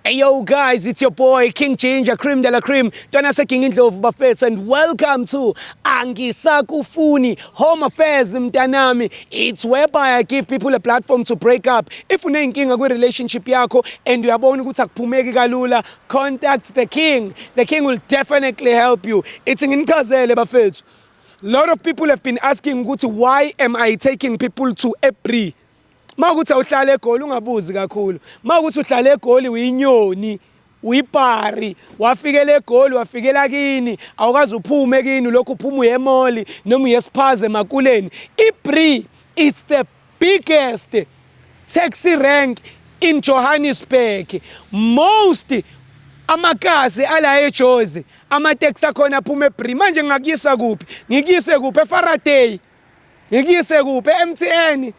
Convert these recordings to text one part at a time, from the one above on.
Hey yo guys, it's your boy King Ginger, Cream de la Cream, Ntwana seKing Indlovu bafethu and welcome to Angisakufuni Home Affairs mntanami. It's whereby I give people a platform to break up. If unenkinga kwi relationship yakho and uyabona ukuthi akuphumeki kalula, contact the king. The king will definitely help you. It's nginichazele bafethu. Lot of people have been asking ukuthi why am I taking people to April? Uma ukuthi awuhlala eGoli ungabuzi kakhulu. Uma ukuthi uhlala eGoli uyinyoni, uyipari, wafikela eGoli, wafikela kini, awukaze uphume kini, lokhu uphuma uye emoli noma uye esiphaze emakuleni. IBri it's the biggest taxi rank in Johannesburg. Most amakasi ala eJozi, amateksi akhona aphuma eBri. Manje ngingakuyisa kuphi? Ngikuyise kuphi? EFaraday. ngikuyise kuphi e-mtn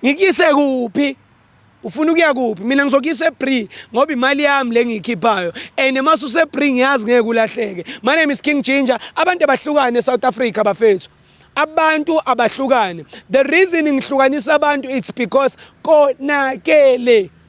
ngikuyise kuphi ufuna ukuya kuphi mina ngizokuyisa ebree ngoba imali yami le ngiyikhiphayo and uma susebree ngiyazi ngeke ulahleke my name is king ginger abantu abahlukane e-south africa bafethu abantu abahlukane the reason ngihlukanisa abantu it's because konakele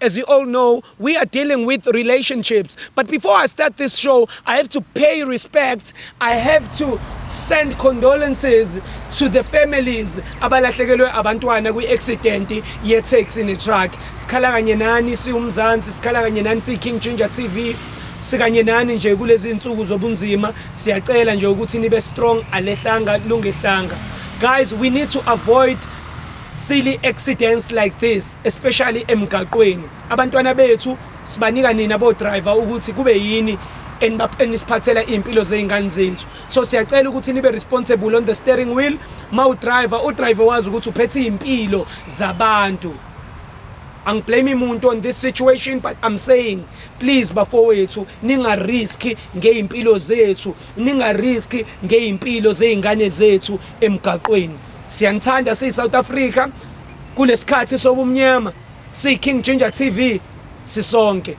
As you all know, we are dealing with relationships. But before I start this show, I have to pay respect. I have to send condolences to the families abalahlekelwe abantwana kwi-accident ye-taxi ne-truck. Sikhala kanye nani siwumzansi, sikhala kanye nani siyi-King Ginger TV. sikanye nani nje kulezi nsuku zobunzima siyacela nje ukuthi nibe strong alehlanga lungehlanga guys we need to avoid Silly accidents like this especially emgaqweni. Abantwana bethu sibanika nina bo driver ukuthi kube yini enisiphathela iy'mpilo zey'ngane zethu so siyacela ukuthi nibe responsible on the steering wheel ma udriver udriver wazi ukuthi uphethe iy'mpilo zabantu angiblame muntu on this situation but i'm saying please bafowethu ningariski ngey'mpilo zethu ningariski ngey'mpilo zey'ngane zethu emgaqweni Siyanithanda siyi South Africa kulesikhathi sobumnyama siyi King Ginger TV sisonke.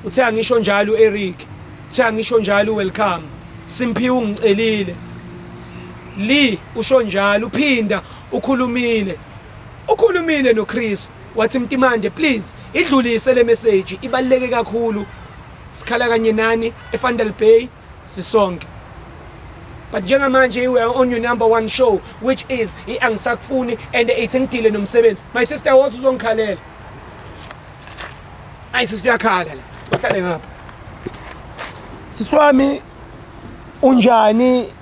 Uthe angisho njalo uEric. Uthe angisho njalo welcome. Simphiwe ungicelile. Lee usho njalo uphinda ukhulumile. Ukhulumile noChris wathi Mtimande please idlulise le message ibaluleke kakhulu. Sikhala kanye nani eFandal Bay sisonke but njengamanje you are on your number one show which is i-angisakufuni and ithi ngidile nomsebenzi my sister wothi uzongikhalela ayi sisi kuyakhala la ohlale ngapha siswami unjani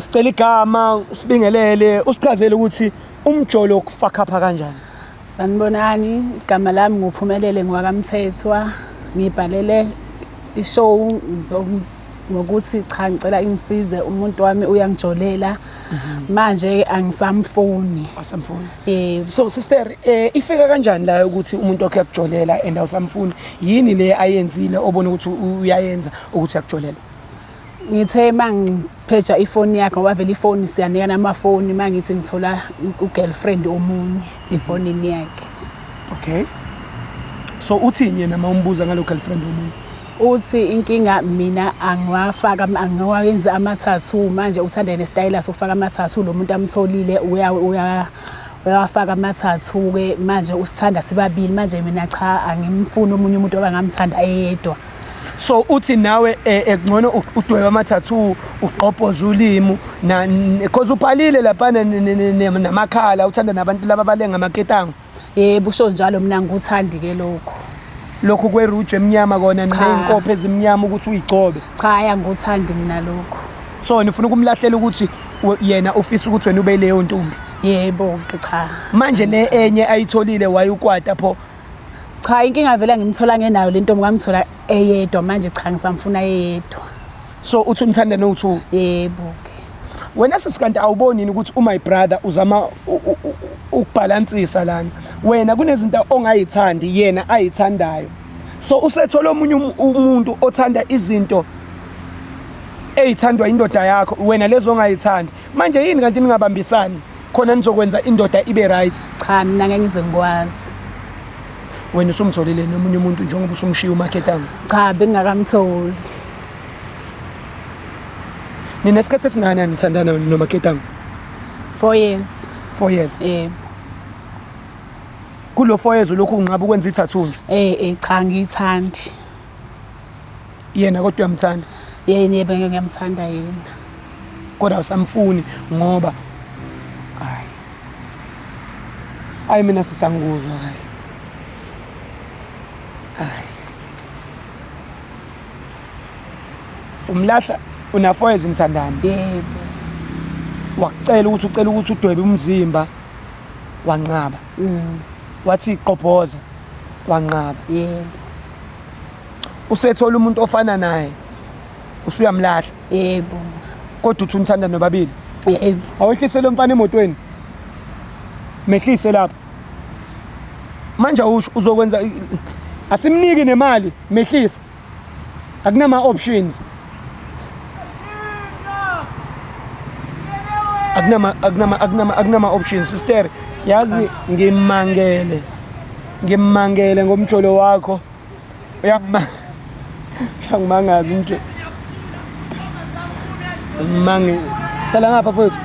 sicela igama usibingelele usichazele ukuthi umjolo ukufakhapha kanjani sanibonani igama lami nguphumelele ngiwakamthethwa ngibhalele ishow ngokuthi cha ngicela ingisize umuntu wami uyangijolela mhm. manje angisamfuni asamfuni eh so sister eh ifika kanjani la ukuthi umuntu wakhe akujolela and awusamfuni yini le ayenzile obona ukuthi uyayenza ukuthi akujolela ngithe uma ngipheja ifoni yakhe ngoba vele ifoni siyanikana amafoni uma ngithi ngithola u-girlfriend omunye mhm. efonini yakhe okay so uthini yena uma umbuza ngalo girlfriend omunye uthi inkinga mina angiwafaka angiwayenzi amathathu manje uthanda yena isitayela sokufaka amathathu lo muntu amtholile uya uya uyawafaka amathathu-ke manje usithanda sibabili manje mina cha angimfuni omunye umuntu oba ngamthanda eyedwa so uthi nawe eh, ekungcono udweba amathathu ugqobhoza ulimu because ubhalile lapha namakhala uthanda nabantu laba balenga amaketango yebo usho njalo mina ngikuthandi ke lokho lokhu kweruju emnyama kona ney'nkopho ezimnyama ukuthi uyigcobe cha ya ngikuthandi mina lokho so nifuna ukumlahlela ukuthi yena ufisa ukuthi wena ube leyo ntombi yebo cha manje le enye ayitholile waye ukwata pho Cha inkinga vele ngimthola ngenayo lento ngamthola eyedwa manje cha ngisamfuna eyedwa. So uthi umthanda no two? Yebo ke. Wena sisikanti awuboni yini ukuthi umy brother uzama ukubhalansisa lana. Wena kunezinto ongayithandi yena ayithandayo. So usethola omunye um-, umuntu othanda izinto eyithandwa indoda yakho wena lezo ongayithandi. Manje yini kanti ningabambisani? khona nizokwenza indoda ibe right cha mina ngeke ngize ngikwazi wena usumtholile nomunye umuntu njengoba usumshiya umaketanga cha bengingakamtholi nina isikhathi esingakanani nithandana nomaketanga four years four years yebo kulo four years ulokhu unqaba ukwenza ithathu nje eh eh cha ngiyithandi yena kodwa uyamthanda yena yebe ngiyamthanda yena kodwa usamfuni ngoba hayi hayi mina sisangikuzwa kahle hayi umlahla unafoyeza umthandani yebo wakucela ukuthi ucela ukuthi udwebe umzimba wanqaba mm. wathi qobhoza wanqaba yebo usethola umuntu ofana naye usuyamlahla yebo kodwa uthi unithanda nobabili yebo awehlise lo mfana emotweni mehlise lapha manje usho uzokwenza asimniki nemali mehlisa akunama options akunama akunama akunama akunama options sister yazi ngimangele ngimangele ngomjolo wakho uyangimanga uyangimangaza umntu ngimange hlala ngapha fethu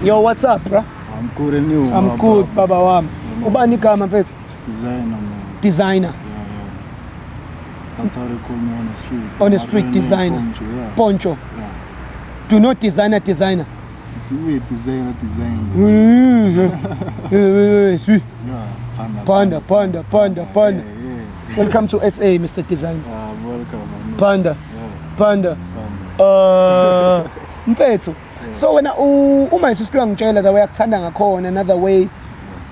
yo what's up bra i'm good and you i'm good baba wami ubani igama mfethu designer man designer That's how they call me on the street. On the street designer. Poncho. Yeah. Poncho. Yeah. Do not designer designer. It's weird design, design. Panda, panda, panda, panda. Welcome to SA, Mr. Design. Ah, welcome. Panda. Panda. Uh, mfethu. So wena uma isistu uyangitshela the way akuthanda ngakhona another way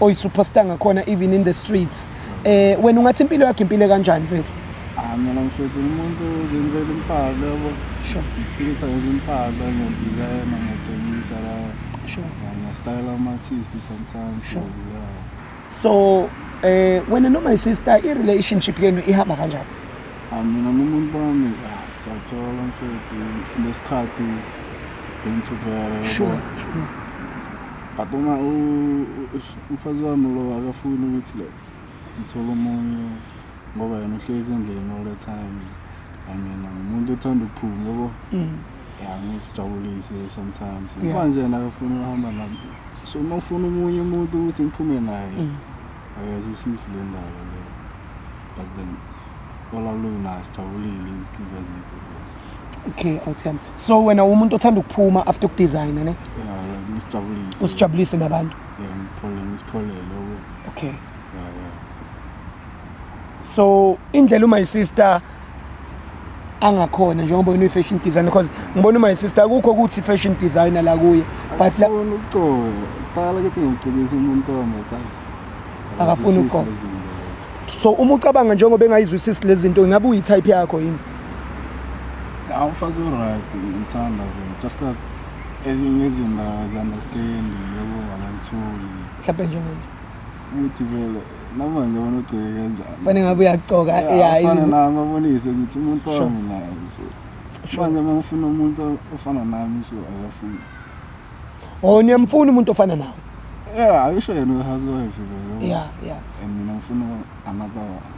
oyi superstar ngakhona even in the streets. Eh wena ungathi impilo yakhe impile kanjani mfethu? Ah mina mfethu umuntu uzenzela impahla yabo. Sure. Ngiphinisa nje impahla ngiyadesign ngiyathengisa la. Sure. Ngiyastyle ama artist sometimes. Sure. Yeah. So eh wena no my sister i relationship yenu ihamba kanjani? Ah mina nomuntu wami ah, sathola mfethu sinesikhathi been together. Sure. Sure. But uma u Umfazi wami lo akafuni ukuthi like ngithole omunye ngoba yena uhlezi endlini all the time and yena ngumuntu othanda ukuphuma yabo Mm. ya ngisijabulise sometimes Yeah. manje yena akafuni ukuhamba nami so uma ufuna omunye umuntu ukuthi ngiphume naye Mm. akazwisisi le ndaba le but then olaluna sijabulile izikiba zethu Okay, awuthemba. So wena umuntu othanda ukuphuma after ukudesigner ne? ya ngisijabulise Usijabulise nabantu. Yeah, ngiphole ngisipholele yabo. okay Yeah, yeah. so indlela uma isister angakhona njengoba wena uyi-fashion designer because ngibona uma isister akukho ukuthi fashion designer la kuye but la- Akafuni ukucoba. Qala ukuthi ngicebise umuntu omadala. Akafuni ukucoba. Akazwisisi lezi zinto lezo. so uma ucabanga njengoba engayizwisisi lezi zinto ingabe uyi-type yakho yini Nah, umfazi o-right, ngithanda vele. Just that ezinye izinto abazi-understand yabo abazitholi mhlawumbe njenganje ukuthi vele noma nje bona ugcike kanjani fanele ngabe uyagqoka ya Yeah, afane izinto- nami abonise ukuthi umuntu Sure. wami naye so Sure. manje uma ufuna umuntu ofana nami so akafuni oh niyamfuna umuntu ofana nawe yeah ayisho yena uyi-housewife vele ya ya and mina ngifuna another one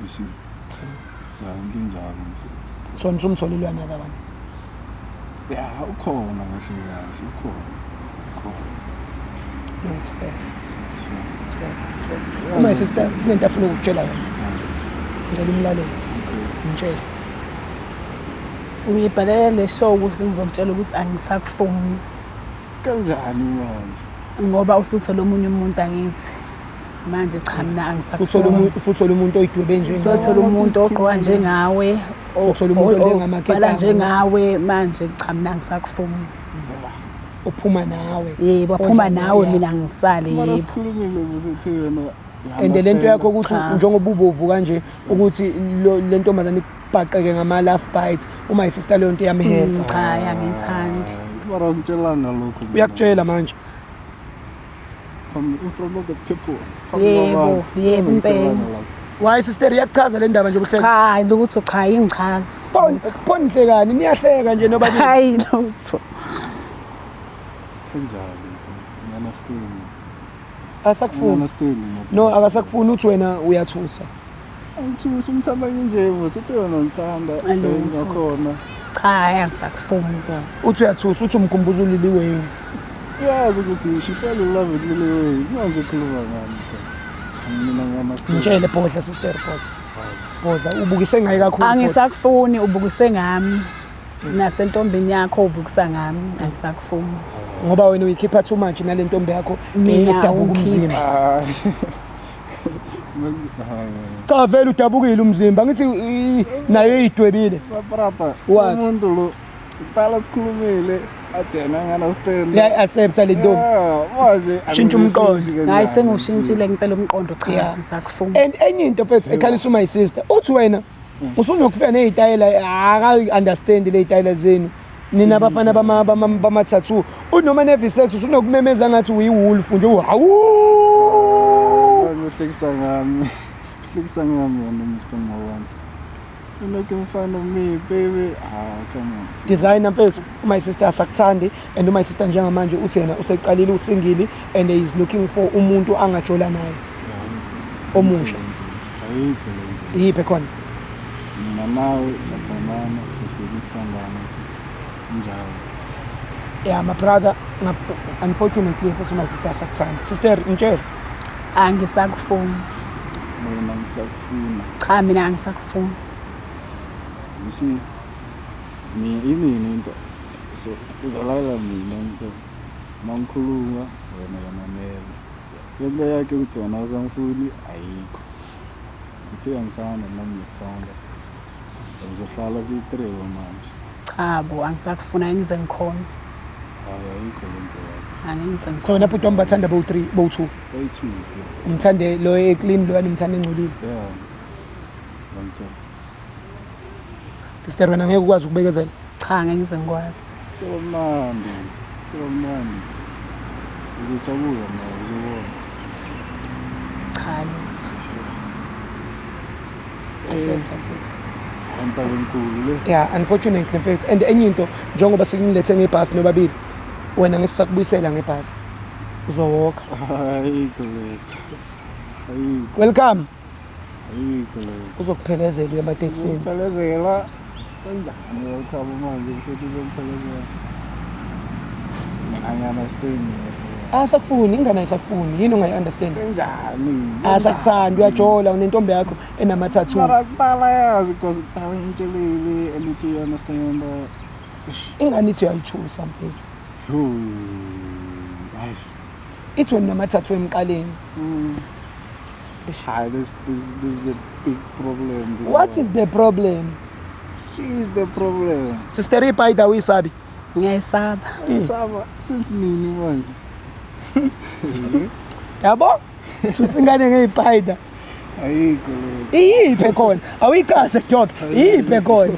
you see ya into enjalo mfethu so nisumtholile uyanyaka abantu ya ukhona kahle kahle ukhona ukhona no it's fair it's fair it's fair it's fair uma sister sinento afuna ukutshela yona ngicela umlaleli ngitshela uyibhalela le show ukuthi ngizokutshela ukuthi angisakufoni kanjani manje ngoba ususe lomunye umuntu angithi manje cha mina angisakuthola usuthola umuntu oyidwebe nje usuthola umuntu ogqoka njengawe usuthola umuntu olengamakhetha njengawe manje cha mina angisakufuni uphuma nawe yebo aphuma nawe mina ngisale yebo mara sikhulumile ukuthi uthi wena and le nto yakho ukuthi njengoba ubovu kanje ukuthi le ntombazane ikubhaqeke ngama-laugh bite uma yisista leyo nto iyamhetha mm, cha yangithandi uyakutshela manje yebo yebo impela Why sister iyakuchaza le ndaba nje ubuhleke? Cha, lutho cha ingichazi. Phone phone hlekani niyahleka nje nobabili. Hayi lutho. Kanjani? Ngana steam. Asakufuni. Ngana steam. No, akasakufuni uthi wena uyathusa. Angithusi umthanda nje mos uthi yona ngithanda ngakhona. Cha hayi angisakufuni ke. Uthi uyathusa uthi umkhumbuza ulili wewe. Uyazi ukuthi she fell in love with Lily Wayne. Manje ukhuluma ngani ke? Mina ngama. Ngitshele bhodla sister bhodla. Bhodla ubukise ngayi kakhulu. Angisakufuni ubukise ngami. nasentombini yakho ubukisa ngami angisakufuni ngoba wena uyikhipha too much nale ntombi yakho edabuka umzimba cha vele udabukile umzimba ngithi nayo idwebile brother umuntu lo uqala sikhulumile athena ngana stand ya accept le ntombi manje shintsha umqondo hayi sengushintshile ngempela umqondo cha ngizakufuna and enye into mfethu ekhalisa my sister uthi wena mm. usunokufika nezitayela aka understand le zitayela zenu nina abafana bama bama bama tattoo unoma ne visex usunokumemeza ngathi uyi wolf nje uhawu uhlekisa ngami uhlekisa ngami wena msiphambo wami Look in front of me, baby. Ah, come on. Designer mfethu, my sister asakuthandi and uma sister njengamanje uthi yena useqalile usingili and is looking for umuntu angajola naye omusha ayikho le nto iyiphi khona mina nawe sathandana sohlezi sithandana njalo ya my brother ngap- unfortunately futhi my sister sakuthanda sister mtshele angisakufuni mina ngisakufuna cha mina angisakufuni you see mina imini into so uzalalela mina ngithe mangikhuluma wena yamamela lento yakhe ukuthi wena awusamfuni ayikho ngithe uyangithanda nami ngikuthanda ngizohlala siyitreko manje cha bo angisakufuna ngize ngikhona hayi ayikho lento yakhe angeke ngize ngikhona so wena bhuti wami bathanda bowu three bowu two bowu two umthande lo eclean lo yanimthanda engcolile yeah ngangithanda Sister wena ngeke ukwazi ukubekezela. Cha ngeke ngize ngikwazi. Sewamnandi. Sewamnandi. Uzojabula ma uzobona. Cha lutho. Asiyonza mfethu. Antabe enkulu le. Yeah, unfortunately mfethu. And enye into njengoba sikunilethe ngebhasi nobabili wena ngisakubuyisela ngebhasi. Uzowoka. Hayi kodwa. Hayi. Welcome. ayikho leyo uzokuphelezela uye ematekisini ukuphelezela kanjani uyothaba manje ukuthi uzokuphelezela mina ngiyanastain asakufuni ingane ayisakufuni yini ungayi-understand kanjani asakuthandi uyajola unentombi yakho enamathathu mara kuqala yazi because kuqala ngitshelile and uthi uyanastain ingane ithi uyayithusa mfethu Yhoo. It went number thathu emqaleni. Mm. Ah, this, this, this is a big problem. This What one. is the problem? She is the problem. Sister Ipaida uyisabi. Ngiyayisaba. Ngiyayisaba mm. since nini manje? Yabo? Susingane ngeyipaida. Ayikho. Iyiphe khona? Awuyicase dog. Iyiphe khona?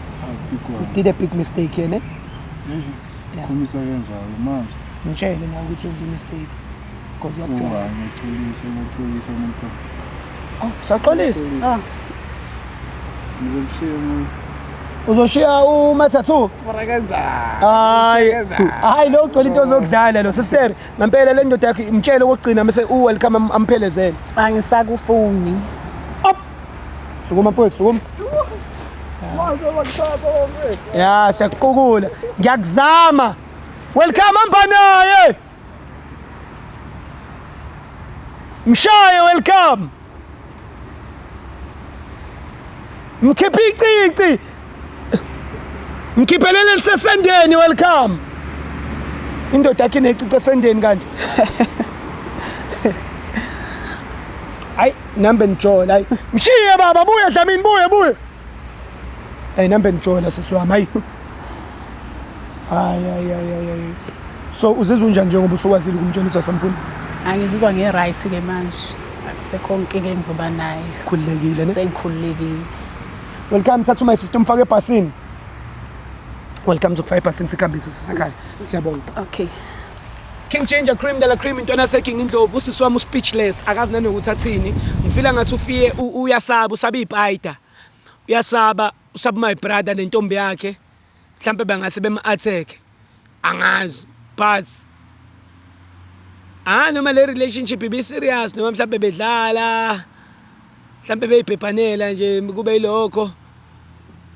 you did a big mistake here ne yeah. khomisa kanjalo manje ngitshele nawe ukuthi wenze imistake because uyakujola ngiyaxolisa ngiyaxolisa umuntu ah saxolisa ah ngizomshiya umuntu uzoshiya umathathu mara kanjani hayi hayi lo ugcwele into zokudlala lo sister ngempela le ndoda yakho imtshele okugcina mase u welcome amphelezele angisakufuni Sukuma mfowethu, sukuma. Ya, siyakuqukula. Ngiyakuzama. Welcome hamba naye. Mshaye welcome. Mkhiphe icici. Mkhiphelele lisesendeni welcome. Indoda yakhe necice esendeni kanti. Ay number njola. Ay mshiye baba buye Dlamini buye buye. Ay number njola sisi wami ay. Ay ay ay ay. So uzizwa unjani njengoba usukwazile ukumtshela ukuthi asamfuni? Angizizwa nge right ke manje. Akusekho inkinga engizoba nayo. Khululekile ne? Sengikhululekile. welcome thatha my sister umfake ebhasini welcome zokufaka ebhasini sikhambise sisekhaya siyabonga okay King Ginger Cream Dala Cream intwana seking indlovu usisi wami uspeechless akazi nanokuthi athini ngifila ngathi ufiye uyasaba usaba ipaida uyasaba usaba my brother nentombi yakhe mhlampe bangase bemu-attack angazi but ah noma le relationship ibi-serious noma mhlampe bedlala mhlampe beyibhebhanela nje kube yilokho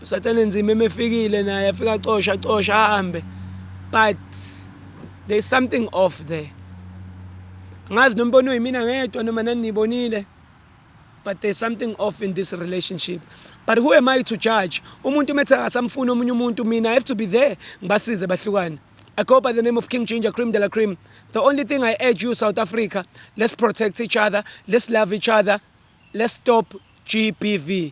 usathane nzima emefikile naye afika acosha acosha ahambe but there's something off there angazi nombono yimina ngedwa noma nanibonile but there's something off in this relationship but who am i to judge umuntu umethi akasamfuni omunye umuntu mina i have to be there ngibasize bahlukane I go by the name of King Ginger Cream de la Cream. The only thing I urge you, South Africa, let's protect each other, let's love each other, let's stop GBV.